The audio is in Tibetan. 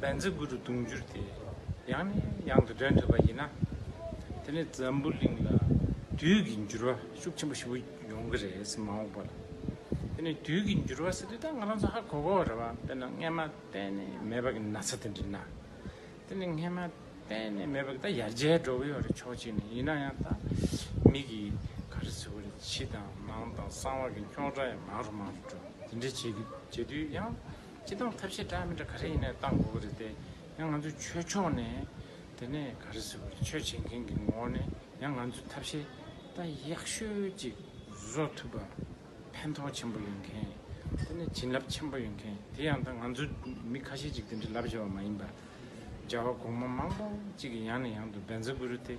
བན་རྩི་དགུ་རུ་དུང་འགྱུར་ཏེ་ཡང་ནས་ཡང་དུ་འདྲེན་ཐུབ་པ་ཡིན་ན། དེ་ནི་འཛམ་བུ་གླིང་ལ་དུས་ཀྱི་འགྱུར་བ་ཤུགས་ཆེན་པོ་ཞིག་ཡོང་གི་རེད་ཟེར་མ་འོངས་པ་ལ། དེ་ནི་དུས་ཀྱི་འགྱུར་བ་ཟེར་དུས་ད་ང་རང་ཚོ་ཧ་གོ་གོ་རེད་བ་དཔེར་ན་རྔན་མ་གཏན་ནས་མེད་པ་གི་ན་ཚ་དེ་འདྲི་ན། དེ་ནི་རྔན་མ་གཏན་ནས་མེད་པ་གི་ད་ཡར་རྒྱས་འགྲོ་གི་ཡོད་རེད་ཕྱོགས་གཅིག་ནས་ཡིན་ན་ཡང་ད་མིག་གིས་ག་རེ་ཟེར་བ་རེད་ཕྱི་དང་ནང་དང་གསང་བ་གི་འཁྱོག་སྒྲ་ཡང་མང་རུ་མང་རུ་འགྲོ་དེ་འདྲ་བྱེད་དུས་ཡང། སྤྱི་བཏང་ཐབས་ཤེས་འདྲ་མི་འདྲ་ག་རེ་ཡིན་ན་བཏང་དགོས་ཀྱི་རེད་དེ། ཡང་ང་ཚོའི་ཆོས་ཕྱོགས་ནས་དེ་ནས་ག་རེ་ཟེར་བ་རེད་ཆོས་བྱེད་མཁན་གྱི་ངོ་བོ་ནས་ཡང་ང་ཚོའི་ཐབས་ཤེས་ད་ཡག་ཤོས་ཅིག་བཟོ་ཐུབ་པ་ཕན་ཐོགས་ཆེན་པོ་ཡོད་མཁན། དེ་ནས་བྱིན་རླབས་ཆེན་པོ་ཡོད་མཁན་དེ་ཡང་ད་ང་ཚོའི་མི་ཁ་ཤས་ཅིག་དེ་འདྲའི་ལབ་བཞག་པ་མ་ཡིན་པར། བྱ་བ་གོང་མ་མང་པོ་ཅིག་གི་ཡང་ནས་ཡང་དུ་འབད་འཛུགས་དགོས་རེད་དེ།